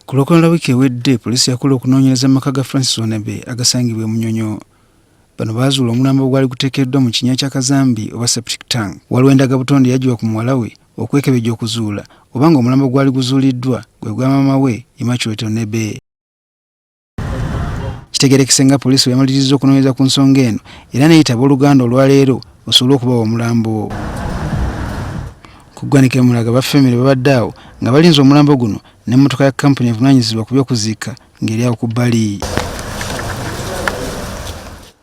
Ku lwokuna lwa wiiki ewedde poliisi yakola okunoonyereza mu maka ga Francis Wanebe agasangibwa e Munyonyo. Bano baazuula omulambo ogwali guteekeddwa mu kinya kya kazambi oba septic tank. Waliwo endaga butonde yaggyibwa ku muwala we okwekebejja okuzuula oba ng'omulambo gwali guzuuliddwa gwe gwa maama we Immaculate Onebe. Kitegerekese nga poliisi bweyamalirizza okunoonyereza ku nsonga eno era neyitaba oluganda olwaleero osobole okubawa omulambo. Ku ggwanika emulaga ba famire babadde awo nga balinze omulambo guno n'emmotoka ya kkampuni evunaanyizibwa ku by'okuziika ng'eri awo ku bbali.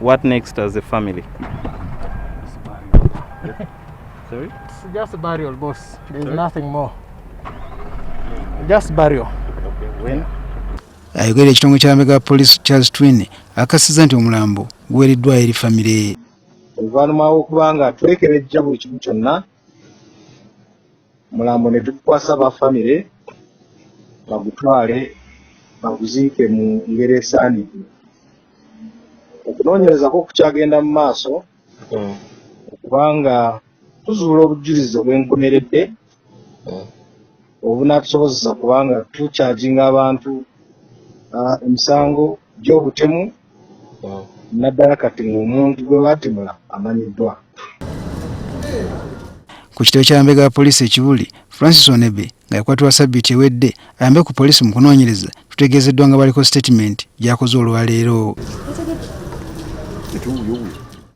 What next as a family? Sorry? It's just burial, boss. There's Sorry? nothing more. Just burial. Okay, when? Ayogera ekitongole kya Mega Police Charles Twin akasiza nti omulambo guweereddwa eri famire. Oluvannyuma lw'okuba nga twekeredja buli kimu kyonna mulambo ne tukwasa ba famire bagutwale baguziike mu ngeri esaanidde okunoonyereza kwo kukyagenda mu maaso hmm. okubanga tuzuula obujulizi obwenkomeredde hmm. obunatusobozesa kubanga tukyaginga abantu ah, emisango gy'obutemu naddala kati ng'omuntu gwe baatemula amanyiddwa ku kitebe kya mbega ya poliisi ekibuli francis onebe nga yakwatibwa sabiti ewedde ayambe ku poliisi mu kunoonyereza tutegeezeddwa nga baliko sitatimenti gyakoze olwaleero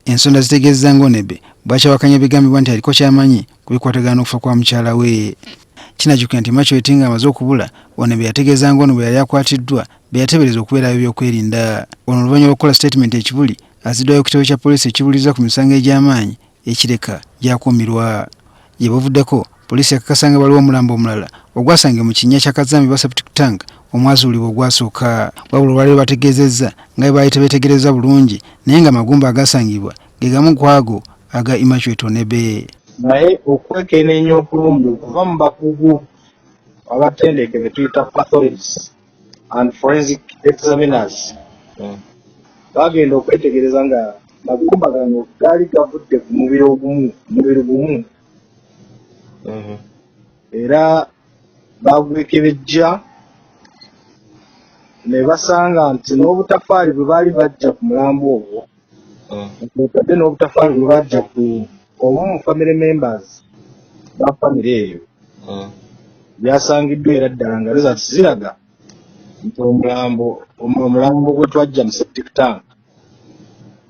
ensonda zitegeezza ngaonebe bwakyawakanya ebigambibwa nti aliko kyamanyi ku bikwatagana n'okufa kwa mukyala we kinajukira nti machweti nga amaze okubula ono beyategeeza nga ono bwe yali akwatiddwa beyatebereza okubeera ab'ebyokwerinda ono oluvannyuma lw'okukola sitatimenti ekibuli aziddwayo ku kitabo kya poliisi ekibuliza ku misango egy'amaanyi ekireka gyakuumirwa gye buvuddeko poliisi yakakasa nga waliwo omulambo omulala ogwasange mu kinnya kya kazambi ba septic tank omwazuulibwa ogwasooka wabula olwaliro bategeezezza nga bwe baali tebeetegereza bulungi naye nga magumba agasangibwa gegamu kwago aga Immaculate Tonebe. Naye okwekeneenya okulungi okuva mu bakugu abatendeke betuyita pathologies and forensic examiners hmm. bagenda okwetegereza nga magumba gano gaali gavudde ku mubiri ogumu mubiri gumu hmm. era bagwekebejja ne basanga nti n'obutafaali bwe baali bajja ku mulambo ogwo otadde n'obutafaali bwe bajja ku omu mu family members ba famire eyo byasangiddwa era ddala nga reza ziraga nti omulambo omulambo gwe twajja mu septic tank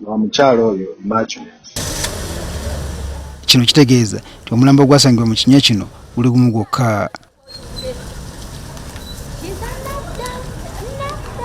wa mukyalo oyo macho kino kitegeeza nti omulambo gwasangibwa mu kinya kino guli gumu gwokka